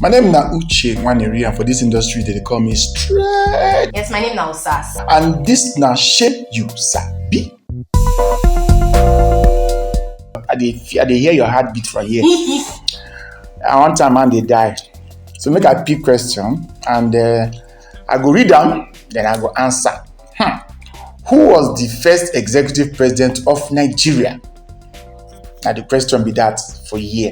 My name na Uche Nwaneri and for this industry they dey call me straight. Yes, my name na Osas. And this na Shey You Sabi. I dey fe- I dey hear your heartbeat for here. and one time man dey die. So make I pick question and uh, I go read am then I go answer. Hmm. Who was the first executive president of Nigeria? Na the question be that for here.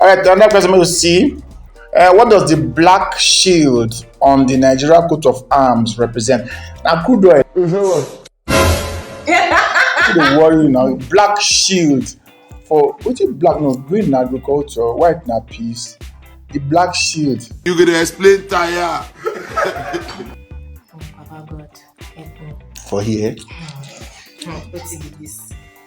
All right, another question we see. Uh, what does the black shield on the Nigeria coat of arms represent? Now, crude oil. Don't worry now. Black shield for which is black no green na agriculture white na peace the black shield. you go dey explain tire. for here. Hmm, hmm, wetin be dis.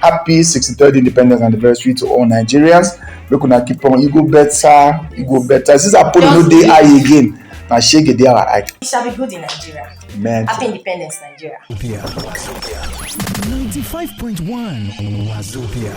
happy 63rd independence anniversary to all nigerians make una keep on e go better e go better since apollo no Just dey wait. eye again na shege dey our eye It shall be good in Nigeria. man Happy Independence, Nigeria. 95.1 Wazobia.